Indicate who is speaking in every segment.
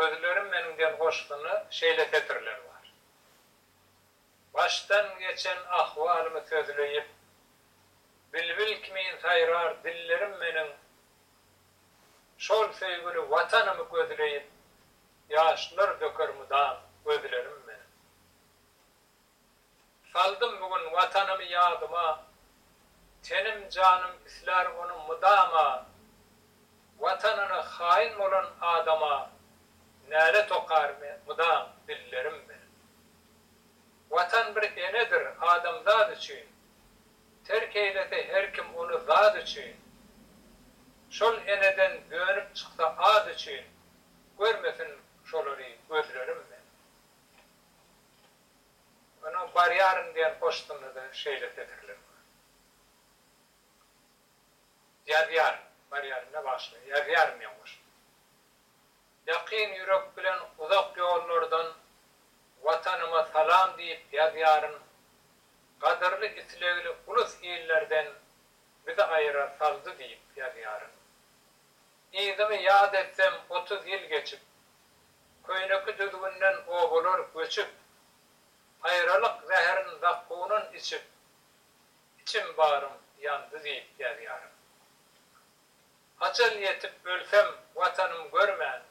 Speaker 1: Gözlerim meniň diýen goşgynda şeýle setirler bar. Başdan geçen ahwalymy sözleýip, Bilbil kimin saýrar dillerim meniň Şol söýgüli Watanymy gözleýip, Ýaşlar döker mydam gözlerim meniň. Saldym bu gün Watanymy ýadyma, Tenim janym islär ony mydama. Watanyna haýyn bolan adama, Nälet okar men mydam dillerim bilen. Watan bir enedir adamzat üçin, Terk eýlese her kim ony zat üçin. Şol eneden dönüp çyksa at üçin, Görmesin şolary gözlerim men. Onuň Barýaryn diýen goşgynda-da şeýle setirler bar. Ýazýaryn, barýaryn-da bagşylar, ýazýaryn diýen goşgy. Ýakyn ýürek bilen uzak ýollardan Watanyma salam diýip ýazýaryn, Gadyrly islegli ulus-illerden bizi aýyrar saldy diýip ýazýaryn. Yzymy ýat etsem otuz ýyl geçip. Köýneki düzgünden obalar göçüp. Aýralyk zäherin zakkunyn içip. Içim barym ýandy diýip ýazýaryn. Ajal ýetip ölsem watanym görmän.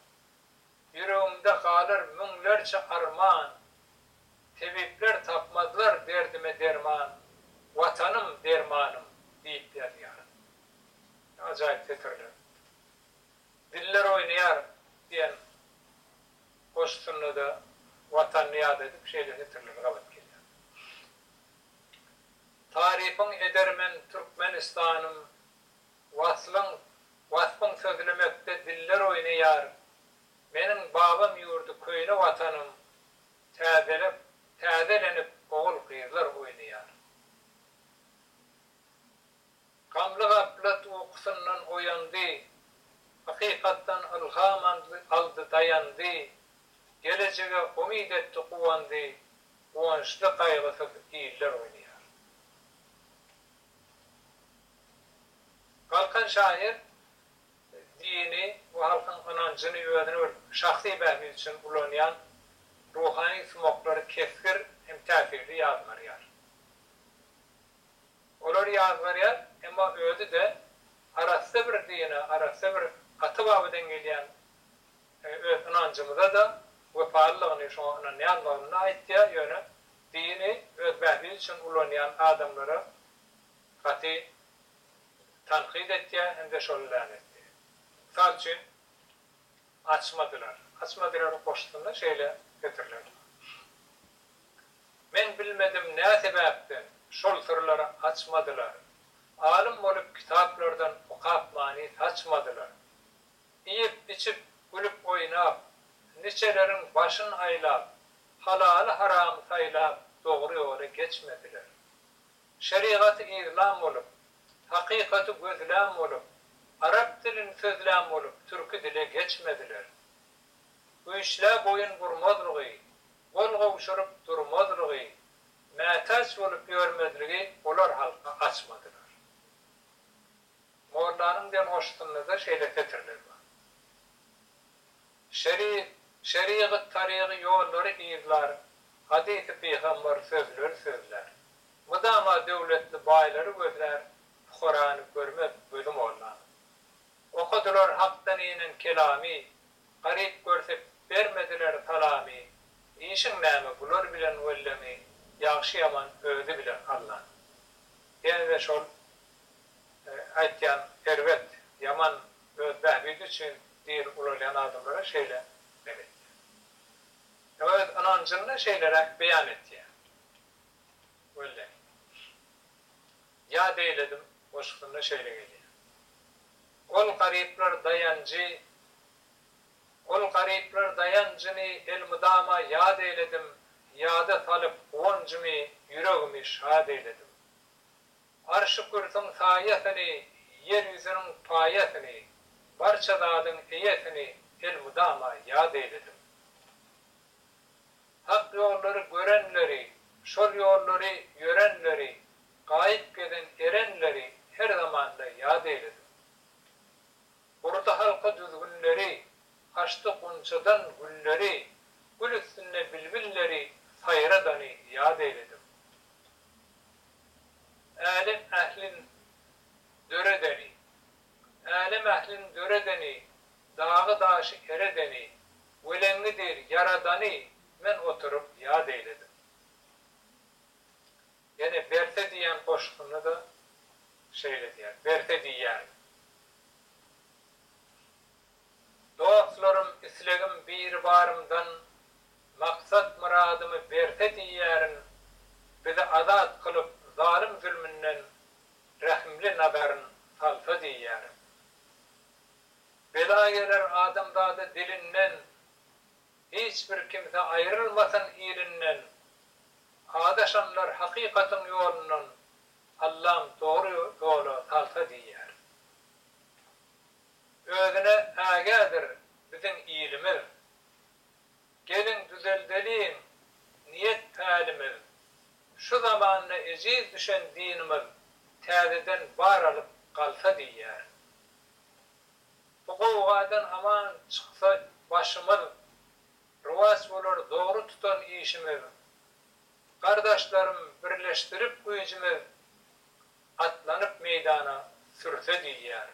Speaker 1: Ýüregimde galar müňlerçe arman. Tebipler tapmazlar derdime derman. Watanym, dermanym diýip ýazýaryn. Ajaýyp setirler. Diller oýnaýar diýen goşusynda-da Watanyny ýat edip şeýle setirleri gabat gelýär. Tarypyň eder men Türkmenistanym, Waslyň, waspyň sözlemekde diller oýnaýar, Meniň babam ýurdy köýne Watanym, Täzelep, täzelenip ogul-gyzlar oýnaýar. Gamly gaplat ukusyndan oýandy, Hakykatdan ylham aldy daýandy, Gelejege umyt etdi guwandy, Guwançly gaýgysyz iller oýnaýar. Galkan şahyr dini we halkyň ynanjyny özüni bir şahsy bähbit üçin ulanýan ruhany sumaklary kesgir hem täsirli ýazgarýar. Olar ýaz berýär, emma özi-de arassa bir dine, arassa bir Ata Babadan gelýän öz ynanjymyza-da wepalydygyny, şoňa ynanýandygyny-da aýtýar, ýöne dini öz bähbidi üçin ulanýan adamlara gaty tankyt etýär hem-de şol länetleýär. Mysal üçin, Açmadylar. Açmadylar goşgusynda şeýle setiriler bar. Men bilmedim nä sebäpden şol syrlary açmadylar. Alym bolup kitaplardan okap many saçmadylar. Iýip içip gülüp oýnap niçeleriň başyn aýlap halaly haramy saýlap dogry ýola geçmediler. Şerigaty yzlan bolup hakykaty gözlän bolup arap dilini sözlän bolup türki dile geçmediler. Güýçlä boýun burmazlygy gol gowşuryp durmazlygy, mätäç bolup ýörmezligi olar halka açmadylar. Mollanyň demgoşusynda-da şeýle setirler bar. Şeri, şerigat, tarygy ýollary yzlar, hadysy pygambar sözleri sözlär. Mydama döwletli baýlary gözlär, pukarany görmez gözi mollanyň. Okadylar hakdan inen kelamy, Garyp görseip bermediler salamy Işiň näme bular bilen welleňi Ýagşy ýaman özi biler Alla Ýenede şol aýtýan erbet ýaman öz bähbidi üçin diri ulalýan adamlara şeýle men etýän Ýa öz ynanjyny şeýleräk beýan etýän welleňi. Ýa beýledim goşgusynda şeýle gelýär. Ol garyplar daýanjy Ol garyplar daýanjyny elmydama ýad eýledim, Ýada salyp guwanjymy, ýüregimi şad eýledim. Arşy-kürsüň saýasyny, ýer ýüzüniň paýasyny, Barça zadyň eýesini elmydama ýad eýledim. Hak ýollary görenleri, şol ýollary ýörenleri, gaýyp gezen erenleri her zamanda ýat eýlesin. Gurdy halka düzgünleri, açdy gunçadan gülleri, gül üstünde bilbilleri saýradany ýat eýledim. Älem ählin döredeni, Älem ählini döredeni, Dagy-daşy eredeni, Weleňňi dil ýaradany Men oturyp ýat eýledim. Ýene Berse diýýän goşgusynda-da şeýle diýýär, Berse diýýän. Dostlarym, islegim Biribarymdan, Maksat-myradymy berse diýýärin, Bizi azat kylyp zalym-zülmünden, Rehimli nazaryn salsa diýýärin. Bela geler adamzada dilinden, Hiç bir kimse aýrylmasyn ilinden. Adaşanlar hakykatyň ýolundan, Allam dogry ýola salsa diýýärin. Özüne ägädir biziň ilimiz, Geliň düzeldeliň niýet-pälimiz, Şu zamanda ejiz düşen dinimiz Täzeden bar alyp galsa diýýär. Bu gowgadan aman çyksa başymyz, Rowaç bolar dogry tutan işimiz. Gardaşlarym birleşdirip güýjümiz, Atlanyp meýdana sürse diýýär.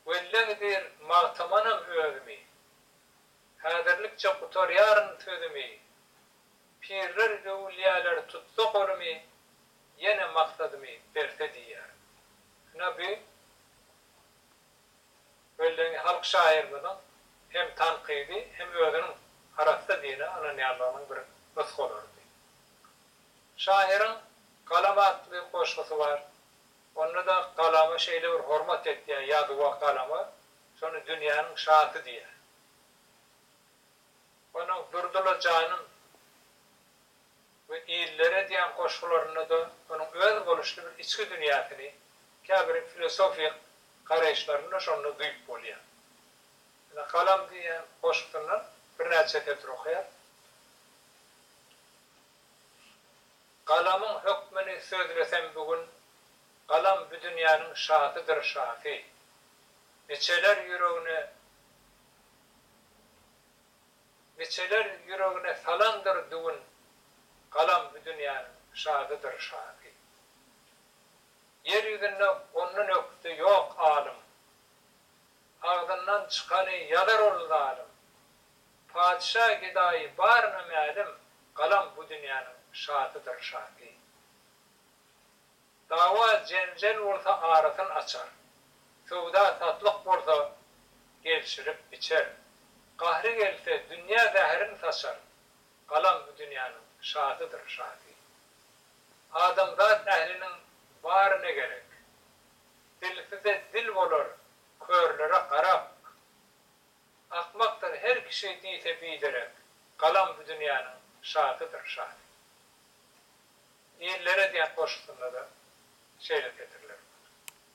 Speaker 1: Welleh diýr magtamanam özümi. Häzirlikçe gutarýaryn sözümi. Pirler öwülýäler tutsa golumy, ýene maksadymy berse diýýär. Ina bu Wellehiň halk şahyrymyzyň hem tankydy hem özüniň arassa dine ynanýanlygynyň bir nusgalarydy. Şahyryň Galam atly goşgusy bar. Onda-da galama şeýle bir hormat etýär, ýazuwa galama, şony dünýäniň şasy diýýär. Onuň Durdyla janym we Illere diýen goşgularynda-da onuň öz boluşly bir içki dünýäsini, käbir filosofik garaýyşlaryny-da şonda duýup bolýar. Ine, Galam diýen goşgusyndan birnäçe setir okaýarys. Galamyň hökmüni sözlesem bu gün, Galam bu dünýäniň şasydyr şasy. Biçeler ýüregine Biçeler ýüregine salandyr düwün, Galam bu dünýäniň şasydyr şasy. Ýer ýüzünde ondan ökde ýok alym, Agzyndan çykany ýazar ol zalym, Patyşa gedaýy baryna mälim, galam bu dünýäniň şatydyr şaty. Dawa jenjel bolsa arasyn açar, söwda satlyk bolsa gelşirip biçer. Gahry gelse dünýä zäherin saçar, galam bu dünýäniň şatydyr şaty. Adamzat ähliniň bary ne gerek? Dilsize dil bolar, körlere garak. Akmakdyr her kişi diýse biderek, Galam bu dünýäniň şadydyr şady. Ýellere diýen goşgusynda-da şeýle setirler bar.